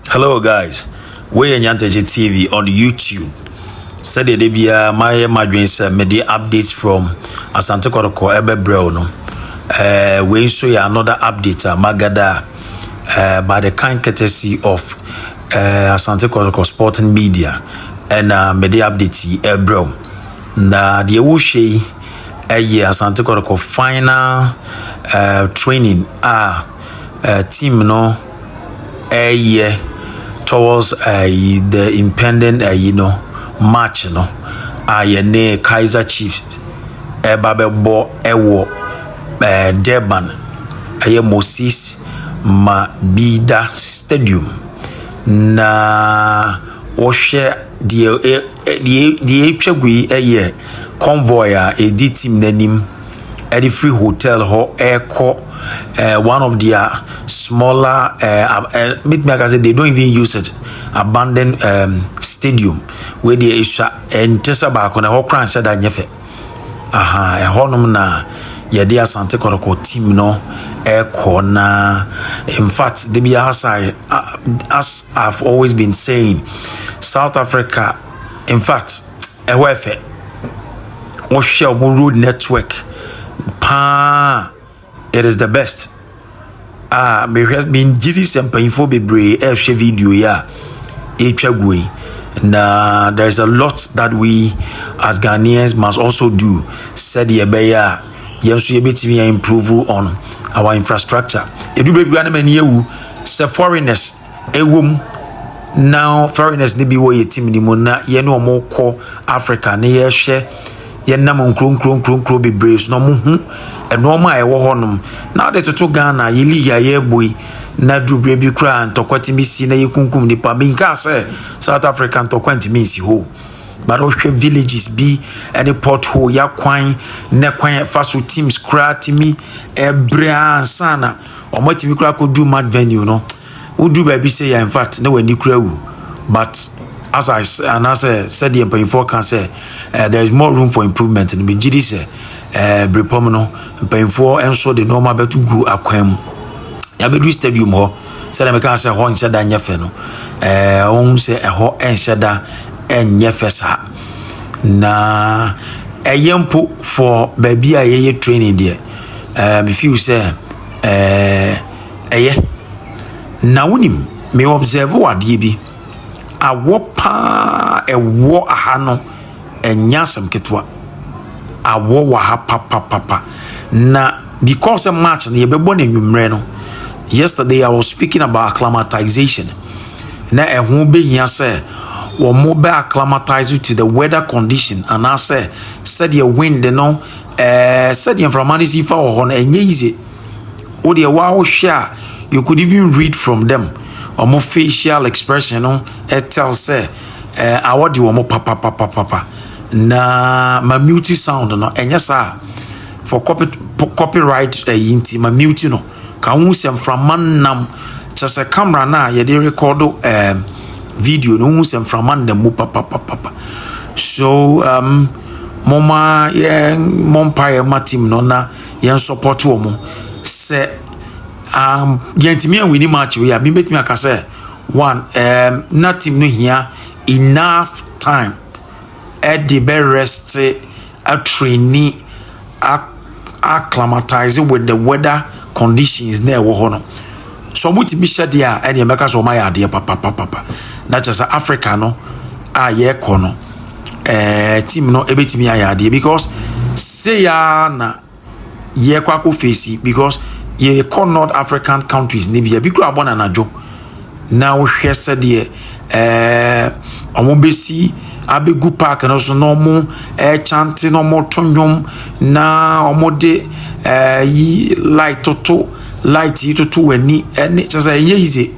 Hello guys, wei yɛ Nyantakyi TV on YouTube. Sɛdeɛ da biara mayɛ m'adwene sɛ mede updates from Asante Kɔtɔkɔ ɛbɛbrɛ wo no. Uh, wei nso yɛ another update a magada uh, by the kind courtesy of uh, Asante Kɔtɔkɔ Sporting Media ɛna uh, mede update yi ɛbrɛ wo. Na deɛ wohwɛ yi ɛyɛ Asante Kɔtɔkɔ final uh, training a uh, team no ɛreyɛ towards ayi the impending ayi no match no a yɛne Kaizer Chiefs ɛreba bɛbɔ ɛwɔ ɛɛ Durban. Ɛyɛ Moses Mabida stadium. Na wɔhwɛ deɛ ɛ ɛ deɛ deɛ atwa gu yi yɛ convoy a ɛredi team no anim. ɛde firi hotel hɔ ɛrekɔ ɛɛ one of their smaller ɛɛ ɛɛ mitumi aka sɛ they don't even use it abandoned um, stadium wei deɛ esua ɛnte sɛ baako na ɛhɔ koraa nhyɛ da nyɛ fɛ aha ɛhɔnom na yɛde asante kɔtɔkɔ team no ɛrekɔ na in fact de bi as i as i've always been saying south africa in fact. ɛhɔ yɛ fɛ wohwɛ wɔn road network paa it is the best a mehwɛ mengye di sɛ mpanyinfoɔ bebree ɛrehwɛ video yi a ɛretwa gu yi na there is a lot that we as ghanaians must also do sɛdeɛ ɛbɛyɛ a yɛn nso yɛbɛtumi a improve on our infrastructure ɛdu baabi a na m'ani awu sɛ foreigners Ɛwom, na foreigners no bi wɔ yɛn team no mu na yɛne wɔn kɔ Africa na yɛhwɛ yɛnam nkuro nkuro nkuro nkuro bebree so na wɔn ho nneɛma a ɛwɔ hɔnom na ade toto Ghana yɛ league a yɛrebɔ yi na duru bere bi koraa ntɔkwa tumi si na yɛkunkum nipa minka sɛ South Africa ntɔkwa ntumi nsi hɔ but wohwɛ villages bi ne pothole yɛ akwan ne kwan ɛfa so teams koraa tumi ɛbrɛ ansa na Ɔmo atumi koraa akɔduru mat venue no woduru baabi sɛ yɛ infact na w'ani kura wu but as I say anaasɛ sɛdeɛ mpanyinfoɔ ka sɛ eh, there is more room for improvement no megye di sɛ eh, berepɔm no mpanyinfoɔ nso de nneɛma bɛto gu akwan mu yɛabɛduru stadium hɔ sɛdeɛ meka sɛ hɔ nhyɛ da nyɛ fɛ no eh, ɔhu sɛ ɛhɔ nhyɛ da nyɛ fɛ saa na ɛyɛ mpo for baabi a yɛyɛ training deɛ eh, me feel sɛ eh, ɛyɛ na wonim me observe wɔ adeɛ bi awɔ paa ɛwɔ aha no ɛnyɛ asɛm ketewa awɔ wɔ aha papapapa na because march no yɛbɛbɔ no anwummerɛ no yesterday i was speaking about acclimatization na ɛho bɛhia sɛ wɔn bɛ acclimatize to the weather condition anaasɛ sɛdeɛ wind no Ɛɛ sɛdeɛ mframa no si fa wɔ hɔ no ɛnyɛ yize wo deɛ wo a wohwɛ a you could even read from them wɔn facial expression no ɛtɛl sɛ ɛɛ awɔ de wɔn papapapapa na ma mute sound no ɛnyɛ saa for copy copyright ɛyi nti ma mute no. Ka wohu sɛ mframa nam kyɛ sɛ kamera no a yɛde rekɔdo um, video no wohu sɛ mframa nam mu papapapapa so um, moma yɛmmɔ mpaeɛ ma team no na yɛn support wɔ mo sɛ um, yɛntumi anwini match wei a mebɛtumi aka sɛ one um, na team no hia enough time ɛde bɛrɛste atraini, a-acclimatise with the weather conditions na ɛwɔ hɔ no. So wɔtumi hyɛ deɛ a ɛne ɛbɛka sɛ wɔayɛ adeɛ papapapa. Na kyerɛ sɛ Africa no a yɛkɔ no, ɛɛ eh, team no ɛbɛtumi ayɛ adeɛ because seya na yɛkɔ akɔ fesi because yɛkɔ north african countries ne bia bi kura abɔ nanadwo na wohwɛ sɛdeɛ ɛɛ wɔn bɛsi abɛgu park no so na wɔn ɛkyante na wɔn to nnwom na wɔn de ɛɛ yi light toto light yi toto wɔn ani ɛne kyɛ sɛ ɛnyɛ yize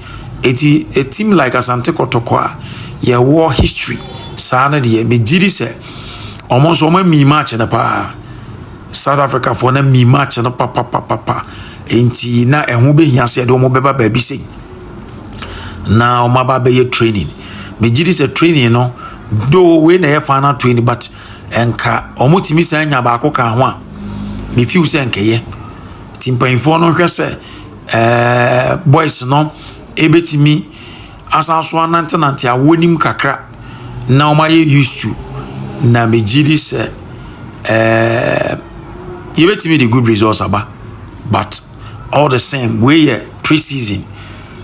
eti etim like asante kɔtɔkɔ a yɛwɔ history saa no deɛ megye di sɛ wɔn nso wɔn ami match no paa. South Africafoɔ no mii match no papapapapa nti na ɛho bɛhia sɛ ɛde wɔn bɛba baabi sei na wɔn aba bɛyɛ training megye di sɛ training no do wei na ɛyɛ final training but nka wɔn tumi san nya baako ka ho a mefiw sɛ nkɛyɛ ti mpanyinfoɔ no hwɛ sɛ ɛɛ boys no ebetumi. asan so anantenante a wɔnim kakra na wɔayɛ used to na megye di sɛ ɛɛ yɛbɛtumi de good results aba but all the same wei yɛ pre-season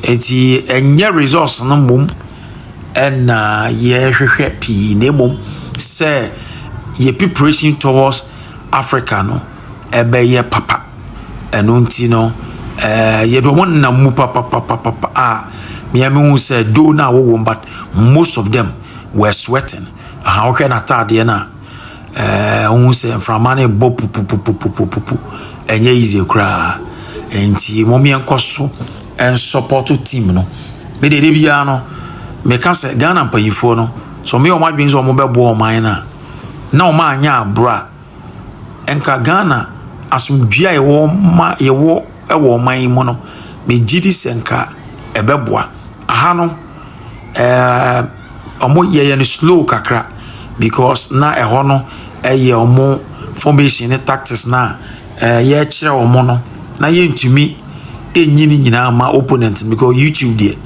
nti ɛnyɛ results no mmom ɛna yɛhwehwɛ pii na mmom sɛ yɛ preparation towards africa no ɛbɛyɛ papa. Ɛno nti no, ɛɛ yɛde wɔn nenam mu papapapapa a mmea mi hu sɛ do na awɔ wɔn but most of them were sweating. Aha wohwɛ n'ataadeɛ no a ɛɛ wohu sɛ mframa no bɔ pupupupupupupu ɛnyɛ easy koraa. Nti wɔn yɛn kɔ so nsɔpɔto team no. Me deɛ de biara no meka sɛ Ghana mpanyinfoɔ no sɛ wɔn yɛ wɔn adwene sɛ wɔn bɛboa wɔn man no a na wɔn anyɛ aboro a nka Ghana asomdwoe a yɛwɔ ma yɛwɔ wɔ ɔman yi mu no, megye di sɛ nka ɛbɛboa. Aha no, ɛɛ wɔn yɛyɛ no slow kakra because na ɛhɔ no yɛ wɔn formation ne tactics no a yɛrekyerɛ wɔn no, na yɛntumi nyi ne nyinaa mma opponent no because YouTube deɛ,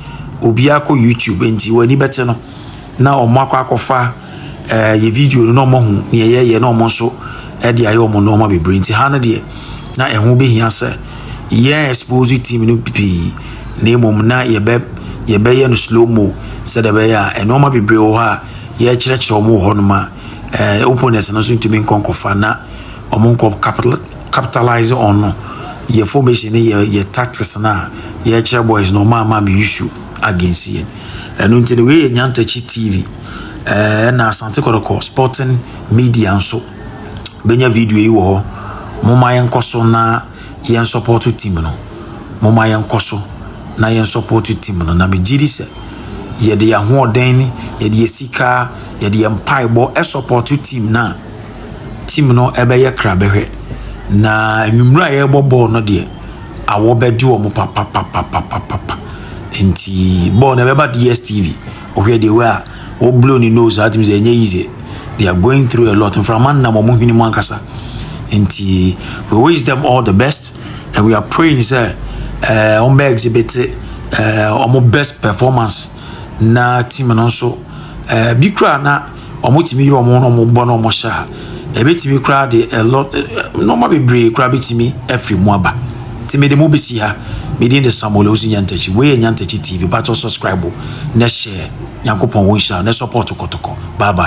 obiara kɔ YouTube nti wɔn ani bɛte no na wɔakɔ akɔfa. eh, yɛ video no na ɔmo ho nea yɛyɛ na ɔmo nso ɛde ayɛ ɔmo nneɛma bebree nti ha no deɛ na ɛho behia sɛ yɛn expose team no pii na mmom na yɛbɛ yɛbɛyɛ no slow mo sɛdeɛ ɛbɛyɛ a nneɛma bebree wɔ hɔ a yɛkyerɛkyerɛ ɔmo wɔ hɔ nom a ɛɛ eh, opponents no nso ntumi nkɔ nkɔfa na ɔmo nkɔ capital capitalize on no yɛ formation ne yɛ yɛ tactics no a yɛkyerɛ boys no ɔmo ama me issue against yɛn ɛno nti no wei yɛ nyantakyi tv. ɛɛ na asante kɔtɔkɔ sporting media nso bɛnya video yi wɔ hɔ moma yɛnkɔ so na yɛn support team no moma yɛnkɔ so na yɛn support team no na megye di sɛ yɛde yɛn ahoɔden ne yɛde yɛn sika yɛde yɛn mpaebɔ ɛsupport team no a team no ɛbɛyɛ kra bɛhwɛ na nnwummerɛ a yɛrebɔ bɔɔl no deɛ awɔ bɛgye wɔn papapapapapa nti bɔɔl no ɛbɛba dstv Wohwɛ the way a wɔ blow ne nose a tumi sɛ ɛnyɛ easy. They are going through a lot. Mframa nnam wɔn hwene mu ankasa. Nti we wish them all the best and we are praying sɛ ɛɛ wɔn bɛ exhibit ɛɛ wɔn best performance na team no nso ɛɛ bi kura na. wɔtumi yere wɔn na wɔbɔ na wɔhyɛ a ɛbɛtumi koraa de ɛlɔ nneɛma bebree koraa bɛtumi afiri mu aba nti mede mu bɛsi ha medin de samuel ɛwusu nyantakyi wei yɛ nyantakyi tv batɔ subscribe na hyɛ nyankopɔn wo nhyira na support kɔtɔkɔ bye bye